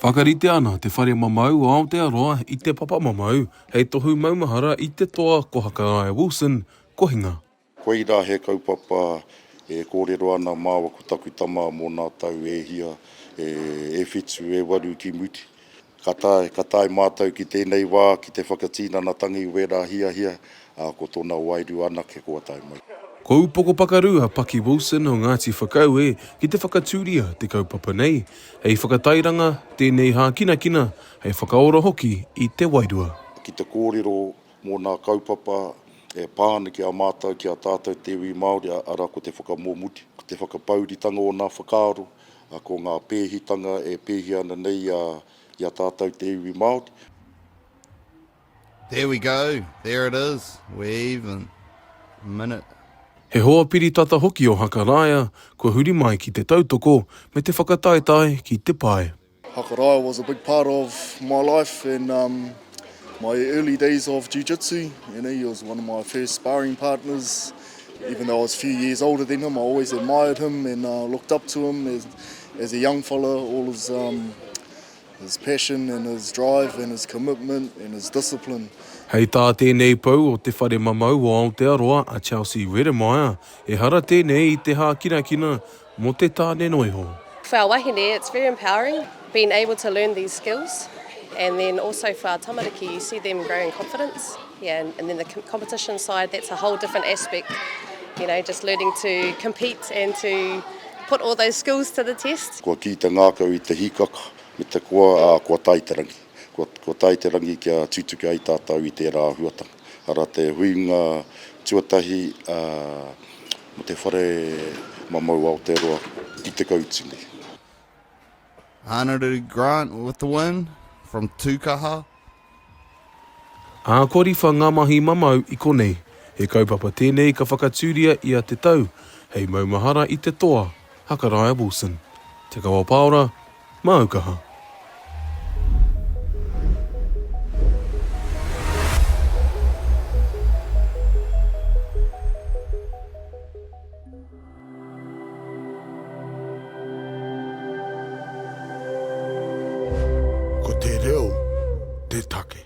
Whakarite ana te whare mamau o Aotearoa i te papa mamau hei tohu maumahara i te toa ko Hakaraia Wilson, kohinga. Koirā he kaupapa e kōrero ana māua ko taku tama mō nā tau e hia, e whitu, e waru ki muti. Ka tae, ka tae mātou ki tēnei wā ki te whakatīnana tangi i wērā hiahia, ā, ko tōna wairua anake kua tae mai. Ko Upoko Pakaru a Paki Wilson o Ngāti Whakaue ki te whakatūria te kaupapa nei, hei whakatairanga, tēnei hākinakina, hei whakaora hoki i te wairua. Ki te kōrero mō nā kaupapa e pā ana ki a mātou, ki a tātou te iwi Māori, arā ko te whakamōmuti, ko te whakapauritanga o nā whakaaro, Ko ngā pēhitanga e pēhi ana nei i a, i a tātou te iwi Māori. There we go, there it is, we're even, a minute. He hoa piritata hoki o Hakaraia kua huri mai ki te tautoko me te whakataetae ki te pae. Hakaraia was a big part of my life in um, my early days of jiu-jitsu. You know, he was one of my first sparring partners. Even though I was a few years older than him, I always admired him and uh, looked up to him as, as a young fella. All his, um, his passion and his drive and his commitment and his discipline. Hei tā tēnei pou o te whare mamau o Aotearoa a Chelsea Redemeyer, ehara tēnei i te hākinakina Mo te tane no iho. For our wahine it's very empowering being able to learn these skills and then also for our tamariki you see them growing confidence yeah and then the competition side that's a whole different aspect you know just learning to compete and to put all those skills to the test. Kua kī te ngākau i te hīkaka me te koa, ā, kua tae te rangi. Kua, kua tae te rangi kia tutuki ai tātou i tērā āhuatanga. Arā te huinga tuatahi, ā, Mō te whare mamau Aotearoa ki Te Kautini. Anaruru Grant with the win from Tukaha. Ākoriwha ngā mahi mamau i konei. He kaupapa tēnei ka whakatūria i a Te Tau hei maumahara i te toa, Hakaraia Wilson. Te Kawapaora, Māu kaha. Ko te reo te take.